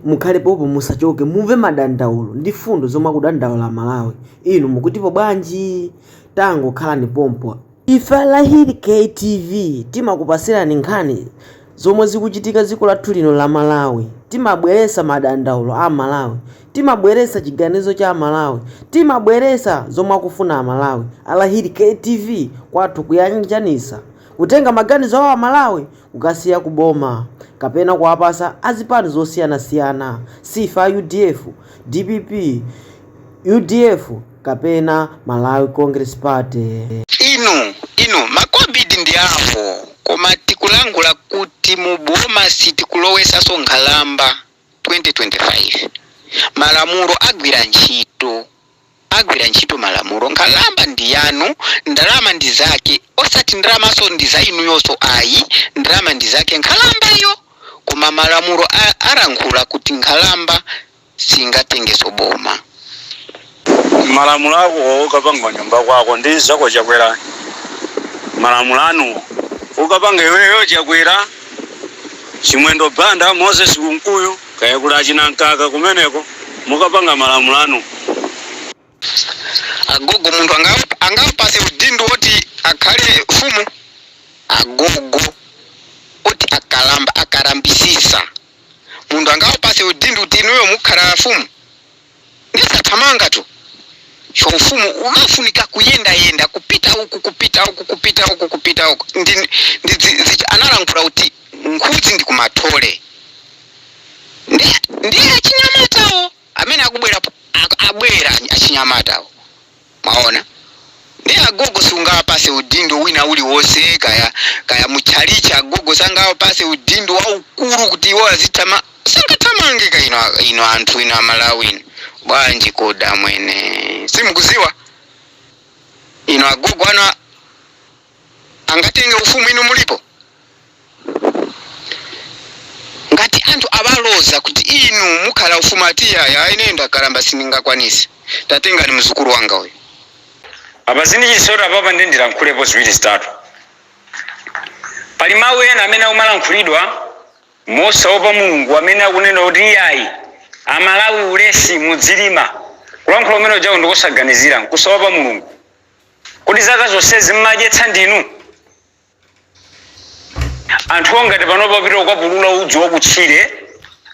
mukhale popo musachoke mumve madandaulo ndi mfundo zomwe akudandaula amalawi inu mukutipo bwanji tangokhalani pompa ife alahiri ktv timakupatsirani nkhani zomwe zikuchitika dziko lathu lino la malawi timabweretsa madandaulo a amalawi timabweretsa chiganizo cha malawi timabweretsa zomwe akufuna amalawi alahiri ktv kwathu kuyanjanitsa kutenga maganizo a malawi kukasiya ku boma kapena kuwapasa azipani zosiyanasiyana siife a udf, dpp, udf kapena Malawi congress party. Inu inu makobidi ndi awo koma tikulankhula kuti mu boma sitikulowetsanso nkhalamba 2025 malamulo agwira ntchito. agwira ntchito malamulo nkhalamba ndi yanu ndalama ndi zake osati ndalamanso ndi za inuyonso ayi ndalama ndi zake nkhalambayo koma malamulo alankhula kuti nkhalamba singatengenso boma. Malamulo akowo ukapanga kunyumba kwako ndi zako chakwera malamulo anuwo ukapanga iweyo chakwera chimwendo banda moses kunkuyu. Kaya kuli achina Mkaka kumeneko mukapanga malamulo anu. Agogo munthu angawapase udindo woti akhale mfumu? Agogo oti akalamba akalambitsitsa munthu angawapase udindo kuti inuyo mukhala mfumu? ndi zothamangatu chifukwa ufumu umafunika kuyendayenda kupita uku kupita uku kupita uku kupita uku ndi, ndi dzi, dzi, analankhula kuti nkhunzi ndi kumathole ndi, ndiye achinyamatawo amene akubwera po- ak- abwera achinyamatawo mwaona ndi agogo sungawapase udindo wina uliwonse kaya kaya mutchalitchi agogo sangawapase udindo waukulu kuti iwo azithama sangathamange ka inu, inu anthu inu amalawi inu bwanji kodi mwene simukudziwa inu agogo ana a- angatenge ufumu inu mulipo? Ngati anthu awaloza kuti inu mukhala mfumu ati iyayi ayi ineyo ndakalamba sindingakwanitse tatengani mdzukulu wanga uyu. Apa zindichisoni apapa nde ndilankhulepo ziwiri zitatu. Pali mau ena amene akumalankhulidwa mosaopa Mulungu amene akunena kuti iyayi amalawi ulesi mudzilima. Kulankhula kumene kujaku ndikusaganizira nkusaopa Mulungu. Kodi zaka zonsezi mmadyetsa ndinu? Anthuwo ngati panopa apita kukapulula udzu wakutchire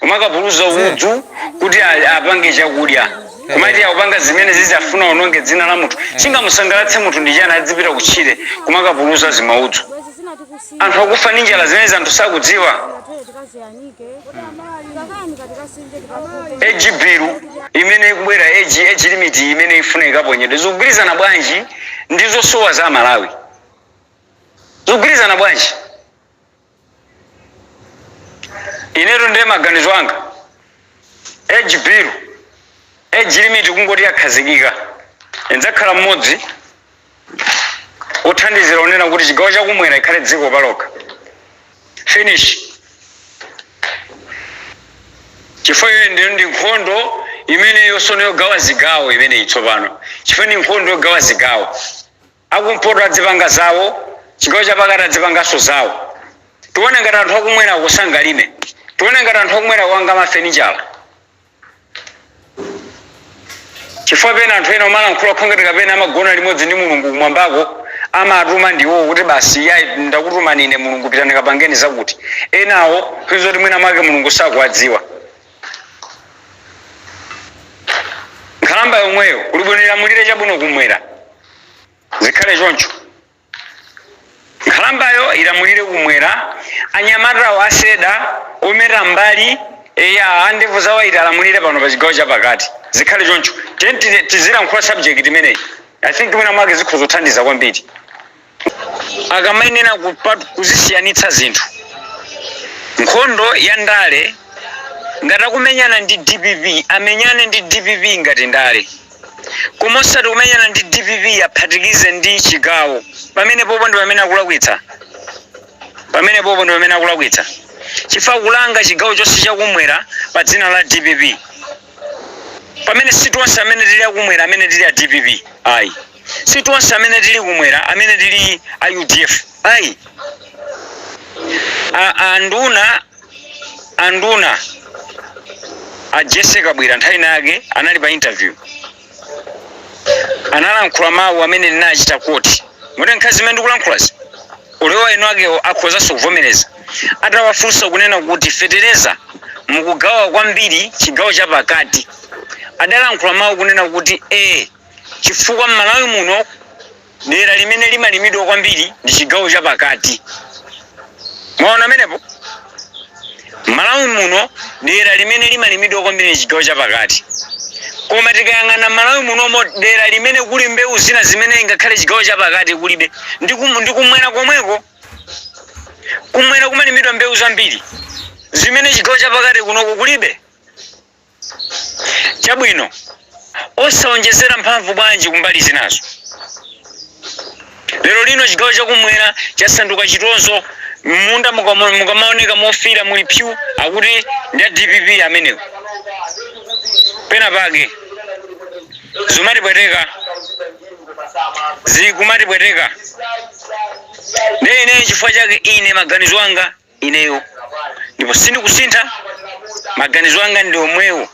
kumakapulula udzu kuti a- apange chakudya kumati akupanga zimenezi afuna ononge dzina la munthu chingamusangalatse munthu ndi chani adzipita kutchire kumakapulula zimaudzu anthu akufa ndi njala zimene anthu sakudziwa age bill imene ikubwera age, age limit imene ifuna ikaponyedwe zikugwirizana bwanji ndi zosowa za malawi zikugwirizana bwanji inetu ndiye maganizo anga age bill age limit kungoti yakhazikika ndidzakhala mmodzi othandizira kunena kuti chigawo chakumwera ikhale dziko palokha finish chifukwa iyoyo ndi ndi nkhondo imeneyo sono yogawa zigawo imeneyi tsopano chifukwa ndi nkhondo yogawa zigawo akumpoto adzipanga zawo chigawo chapakati adzipanganso zawo tione ngati anthu akumwerako sangalime tione ngati anthu akumwerako anga mafenichala Chifukwa pena anthu ena amalankhula kukhala ngati kapena amagona limodzi ndi Mulungu kumwambako, amatumwa ndi iwowo kuti basi iyayi ndakutumani ine Mulungu pitani kapangeni zakuti. Enawo nkhani zoti mwina mwake Mulungu sakuwadziwa. Nkhalamba yomweyo kuli bwino ilamulire chabwino kumwera. Zikhale choncho. Nkhalambayo ilamulire kumwera, anyamatawo aseda, ometa m'mbali, eya, a ndevu zawaiti alamulire pano pa chigawo chapakati. Zikhale choncho. Tiyeni ti, tizilankhula subject imeneyi. I think mwina mwake zikhoza kuthandiza kwambiri. Akamayenera kupat, kuzisiyanitsa zinthu. Nkhondo ya ndale, ngati akumenyana ndi dpp, amenyane ndi dpp ngati ndale. koma osati kumenyana ndi dpp aphatikize ndi chigawo pamenepopo ndi pamene akulakwitsa pamenepopo ndi pamene akulakwitsa chifukwa kulanga chigawo chonse chakumwera pa dzina la dpp pamene si tonse amene tili akumwera amene tili a dpp ayi si tonse amene tili kumwera amene tili a udf ayi a- anduna anduna a jese kabwira nthawi ina yake anali pa interview analankhula mawu amene ndinachita kuti moti nkhani zimene ndikulankhulazi olo iwo eni akewo akhozanso kuvomereza atawafunsa kunena kuti fetereza mukugawa kwambiri chigawo cha pakati adalankhula mawu kunena kuti e chifukwa mmalawi muno Dera limene limalimidwa kwambiri ndi chigawo chapakati. Mwaona pamenepo? M'Malawi muno dera limene limalimidwa kwambiri ndi chigawo chapakati. Koma tikayang'ana m'Malawi munomo dera limene kuli mbewu zina zimene ngakhale chigawo chapakati kulibe ndi kum- ndi kumwera komweko. Kumwera kumalimidwa mbewu zambiri zimene chigawo chapakati kunoko kulibe. Chabwino, osawonjezera mphamvu bwanji ku mbali zinazo? Lerolino chigawo cha Kummwera chasanduka chitonzo. Mmunda mukamawoneka mofiira muli pyu, akuti, Ndi a dpp amenewo. Penapake. Zumatipweteka. Zikumatipweteka. Ndiye ine nchifukwa chake ine maganizo anga ineyo ndipo sindikusintha maganizo anga ndi omwewo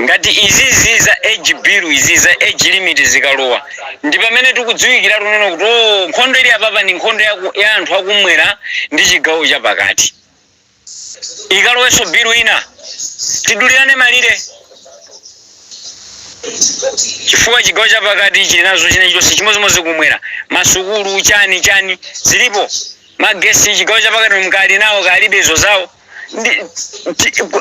ngati izizi za age bill izi za age limit zikalowa ndi pamene tikudziwikiratu tsono kuti o nkhondo ili apapa ndi nkhondo ya anthu akumwera ndi chigawo chapakati ikalowenso bilu ina tidulirane malire chifukwa chigawo chapakati chili nazo china chonse chimodzimodzi kumwera masukulu chani chani zilipo magesi chigawo chapakati nkali nawo kalibe izo zawo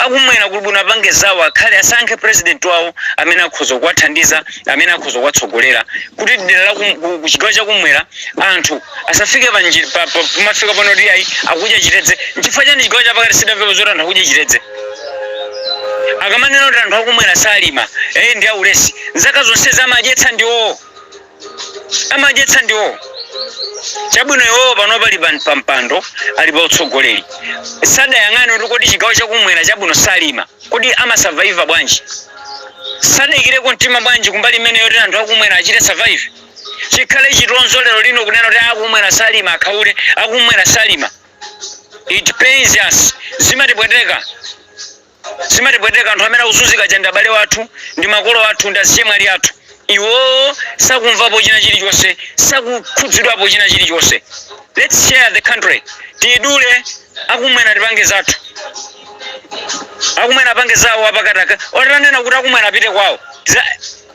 akumwera kuli bwino apange zawo akhale asankhe president wawo amene akhoza kuwathandiza amene akhoza kuwatsogolera kuti dera la kum- ku- ku chigawo chakumwera anthu asafike pa nji- pa- pa- pamafika pano kuti ayi akudya chitedze nchifukwa chani chigawo chapakati sidamvepo zoti anthu akudya chitedze akamanena kuti anthu akumwera salima eye ndi aulesi nzaka zonse amadyetsa ndiwowo amadyetsa ndiwo chabwino iwowo pano pali pan- pa mpando ali pa utsogoleri sadayang'ane kuti kodi chigawo chakumwera chabwino salima kodi amasavaiva bwanji sadaikireko mtima bwanji kumbali imeneyo yoti anthu akumwera achite survive chikhale chitonzo lero lino kunena kuti akumwera salima akhaule akumwera salima it pains us zimatipweteka Zimatipweteka anthu amene akuzunzika aja ndi abale athu ndi makolo athu ndi azichemwali athu iwowo sakumvapo china chilichonse sakukhudzidwapo china chilichonse lets share the country tiidule akumwera tipange zathu akumwera apange zawo apakati akatanena kuti akumwera apite kwawo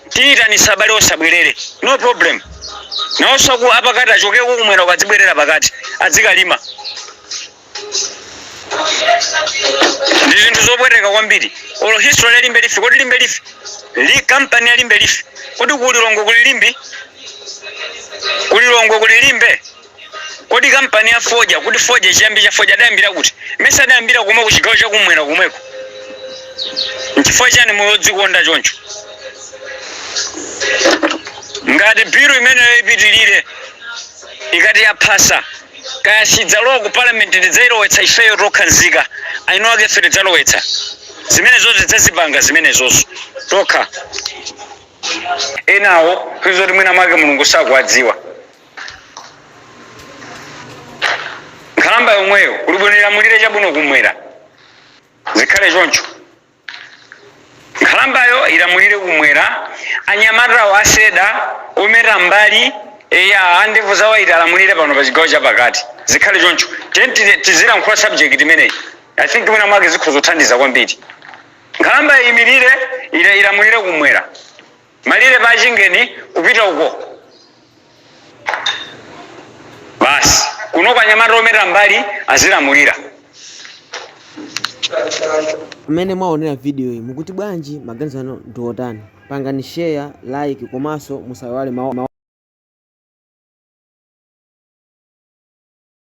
tiyitanitsa abale onse abwerere no problem nawonso apakati achokeko kumwera uko adzibwerera pakati adzikalima ndi zinthu zopweteka kwambiri olo history ya limbe leaf kodi limbe leaf li company ya limbe leaf kodi ku lilongwe kuli limbi ku lilongwe kuli limbe kodi kampani ya fodya kodi fodya chiyambi cha fodya adayambira kuti mesa adayambira komweko chigawo chakumwera komweko nchifukwa chani moyo odzikonda choncho ngati biru imeneyo ipitilire ikati yaphasa Kaya sidzalowa ku parliament tidzailowetsa ifeyo tokha nzika eni akefe tidzalowetsa zimenezozo tidzazipanga zimenezozo tokha enawo poti mwina mwake Mulungu sakuwadziwa nkhalamba yomweyo kuli bwino ilamulire chabwino kumwera zikhale choncho. Nkhalambayo ilamulire kumwera, anyamatawo a Seda, ometa m'mbali, eya, a ndevu za waiti alamulire pano pa chigawo chapakati. Zikhale choncho. Tiyeni ti, tizilankhula subject imeneyi. I think mwina mwake zikhoza kuthandiza kwambiri. Nkhalambayo imirire, ila, ilamulire kumwera. malire pa Chingeni kupita uko basi kunoko anyamata ometa mbali azilamulira. Amene mwaonera video iyi mukuti bwanji? Maganizo anu ndi otani? Pangani share, like komanso musaiwale